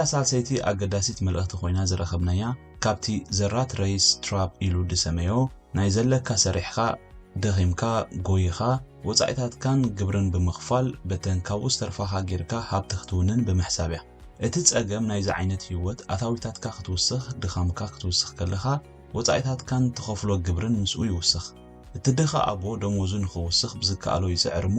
እታ ሳልሰይቲ ኣገዳሲት መልእኽቲ ኮይና ዝረኸብናያ ካብቲ The Rat Race Trap ኢሉ ድሰመዮ ናይ ዘለካ ሰሪሕኻ ደኺምካ ጎይኻ ወጻኢታትካን ግብርን ብምኽፋል በተን ካብኡ ዝተርፋኻ ጌርካ ሃብቲ ክትውንን ብምሕሳብ እያ። እቲ ጸገም ናይዚ ዓይነት ህይወት ኣታዊታትካ ክትውስኽ ድኻምካ ክትውስኽ ከለኻ ወጻኢታትካን ትኸፍሎ ግብርን ምስኡ ይውስኽ። እቲ ድኻ ኣቦ ደሞዙ ንኽውስኽ ብዝከኣሎ ይጽዕር እሞ፣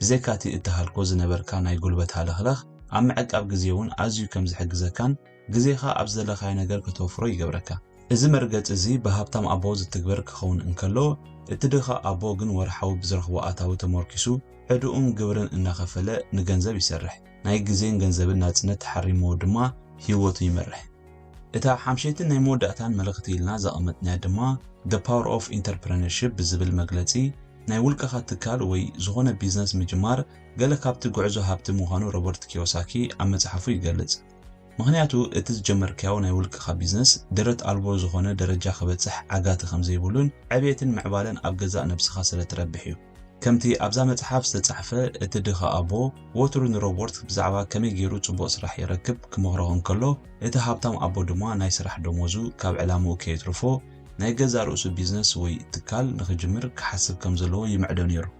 ብዘይካ'ቲ እትሃልኮ ዝነበርካ ናይ ጉልበት ሃለኽለኽ፣ ኣብ ምዕቃብ ግዜ'ውን ኣዝዩ ከም ዝሕግዘካን ግዜኻ ኣብ ዝደለኻዮ ነገር ከተውፍሮ ይገብረካ። እዚ መርገጺ እዚ ብሃብታም ኣቦ ዝትግበር ክኸውን እንከሎ፣ እቲ ድኻ ኣቦ ግን ወርሓዊ ብዝረኽቦ ኣታዊ ተሞርኪሱ ዕድኡን ግብርን እናኸፈለ ንገንዘብ ይሰርሕ። ናይ ግዜን ገንዘብን ናጽነት ተሓሪምዎ ድማ ህይወቱ ይመርሕ። እታ ሓምሸይትን ናይ መወዳእታን መልእኽቲ ኢልና ዘቐመጥናያ ድማ The Power of Entrepreneurship ብዝብል መግለጺ ናይ ውልቀኻ ትካል ወይ ዝኾነ ቢዝነስ ምጅማር ገለ ካብቲ ጉዕዞ ሃብቲ ምዃኑ ሮበርት ኪዮሳኪ ኣብ መጽሓፉ ይገልጽ። ምኽንያቱ እቲ ዝጀመርካዮ ናይ ውልቀኻ ቢዝነስ ደረት ኣልቦ ዝኾነ ደረጃ ክበጽሕ ዓጋቲ ከምዘይብሉን ዕብየትን ምዕባለን ኣብ ገዛእ ነብስኻ ስለትረብሕ እዩ። ከምቲ ኣብዛ መጽሓፍ ዝተጻሕፈ፣ እቲ ድኻ ኣቦ ወትሩ ንሮበርት ብዛዕባ ከመይ ገይሩ ጽቡቕ ስራሕ ይረክብ ክመኽሮ እንከሎ፣ እቲ ሃብታም ኣቦ ድማ ናይ ስራሕ ደሞዙ ካብ ዕላምኡ ከየትርፎ ናይ ገዛእ ርእሱ ቢዝነስ ወይ ትካል ንኽጅምር ክሓስብ ከም ዘለዎ ይምዕዶ ነይሩ።